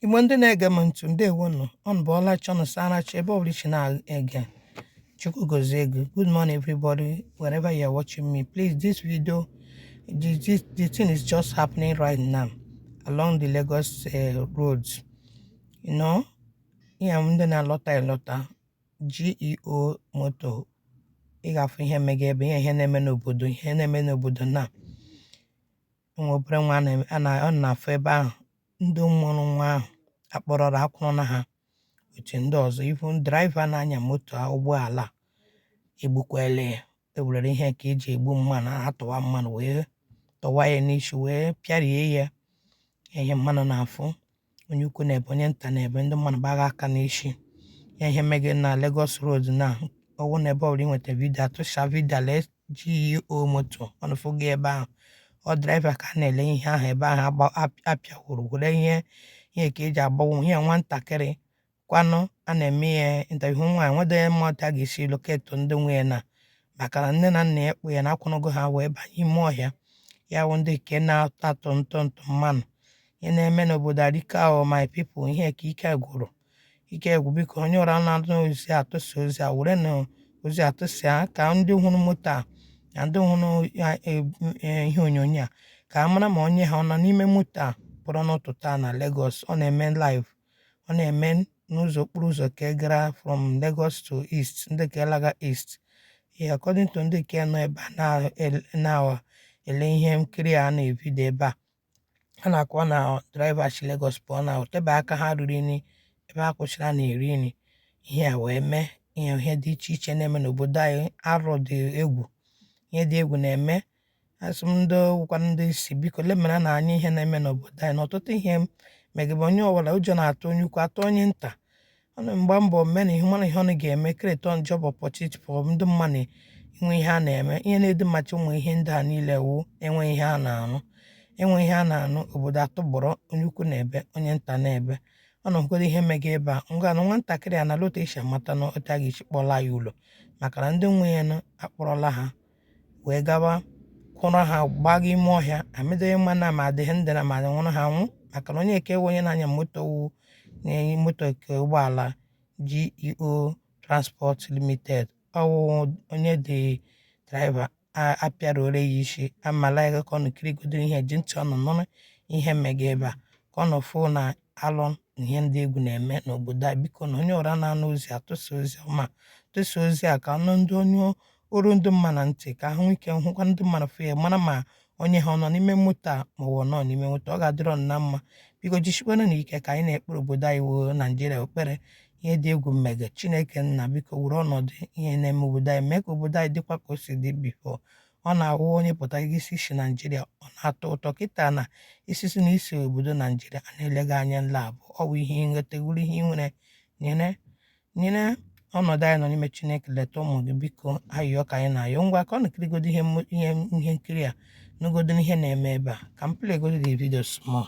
Igbo ndị na-ege m ntị ndewonụ ụnụ bọọla chi ụnụ saara chi ebe ọbụla i si na-ege Chukwu gozie gị o good morning everybody wherever you are watching me please this video the, the, the thing is just happening right now along the Lagos uh, roads you know ihe ndị na-alọta elọta GUO moto ị ga-afụ ihe mega ebe ihe ihe na-eme n'obodo ihe na-eme n'obodo na nwa obere nwa a ụnụ na-afụ ebe ahụ ndị mụrụ nwa ahụ akpọrọla akwụrụ na ha otu ndị ọzọ even driver na-anya moto a ụgbọala a egbukwala ya ewelere ihe nke eji egbu mmadụ atụwa mmadụ wee tụwa ya n'isi wee pịarie ya ihe mmadụ na-afụ onye ukwu na-ebe onye nta na-ebe ndị mmadụ gbagha aka n'isi ya ihe mege na Lagos Road na ọwụ na ebe ọbụla inweta vidio a tụsaa vidio a lee GUO moto ụnụ fụga ebe ahụ ọ driver ka a na-ele ihe ahụ ebe ahụ agba- ap- apịawuru were ihe ihe nke eji agbawa ihe nwatakịrị kwanụ a na-eme ya interview nwa ya nwede mma otu a ga-esi locate ndị nwe ya na maka na nne na nna ya kpụ ya na akwụrụgo ha wee banye ime ọhịa ya wụ ndị nke na-atọ atọ ntọ ntọ mmadụ ihe na-eme n'obodo arike ahụ my people ihe ka ike gwụrụ ike gwụ biko onye ọbụla nata ozi a tụsaa ozi a were na ozi a tụsaa ka ndị hụrụ moto a na ndị hụrụ ya- e- e- ihe onyonyo a ka a mara ma onye ha ọ nọ n'ime moto a pụrụ n'ụtụtụ a na Lagos ọ na-eme live ọ na-eme n'ụzọ okporo ụzọ nke gara from Lagos to East ndị nke laga East ee according to ndị nke nọ ebe a na-ele ihe nkiri a na-evideo ebe a a na-akọwa na driver si Lagos pụọ na o tebe aka ha riri nri ebe ha kwụsịrị na-eri nri ihe a wee mee ihe ihe dị iche iche na-eme n'obodo anyị arụ dị egwu ihe dị egwu na-eme asị m ndị wụkwa ndị isi biko lemara anya ihe na-eme n'obodo anyị na ọtụtụ ihe mega ugbu a onye ọbụla ụjọ na-atụ onye ukwu atụ onye nta ụnụ gba mbọ mee na ihe mara ihe ụnụ ga-eme create job opportunity pụọ ndị mmadụ inwe ihe a na-eme ihe na-edu mmachi ụmụ ihe ndị a niile wụ enwe ihe a na-arụ enwe ihe a na-arụ obodo a tọgbọrọ onye ukwu na-ebe onye nta na-ebe ụnụ ahụgoro ihe mega ebe a ngwa na nwatakịrị a na lota esi amata na otu a ga-esi kpọla ya ụlọ maka na ndị nwe ya nụ akpọrọla ha wee gawa kwụrụ ha gbaga ime ọhịa amadịghị ma na ma ha dị ndụ na ma ha nwụrụ anwụ maka na onye nke wụ onye na-anya moto wu na-anya moto nke ụgbọala GUO Transport Limited ọwụ onye de driver apịara ore ya isi amala ya ka ụnụ kirigodu ihe ji ntị ụnụ nụrụ ihe mega ebe a ka ụnụ fụ na alọ ihe dị egwu na-eme n'obodo a biko na onye ọra na-anụ ozi a tụsa ozi ọma tụsa ozi a ka ọnụ ndị onye o ruo ndị mmadụ na ntị ka ahụ ike hụkwa ndị mmadụ fụ ya mara ma onye ha ọ nọ n'ime moto a ma ọ nọ n'ime moto ọ ga-adịrị ụnụ mma biko jisikwanụ ike ka anyị na-ekpere obodo anyị wụ naijiria ekpere ihe dị egwu mega chineke nna biko were ọnọdụ ihe na-eme obodo anyị mee ka obodo anyị dịkwa ka o si dị before ọ na-awụ onye pụta gị sị i si naijiria ọ na-atọ ụtọ kịta na i sị na i si obodo naijiria a na-ele gị anya nla abụọ ọ bụ ihe nwute wụrụ ihe nwere nyere nyere ọnọdụ anyị nọ n'ime chineke leta ụmụ gị biko ayịyọ ka anyị na-ayọ ngwa ka ụnụ kirigodo ihe ihe ihe nkiri a nụgodo ihe na-eme ebe a ka m playgodo the video small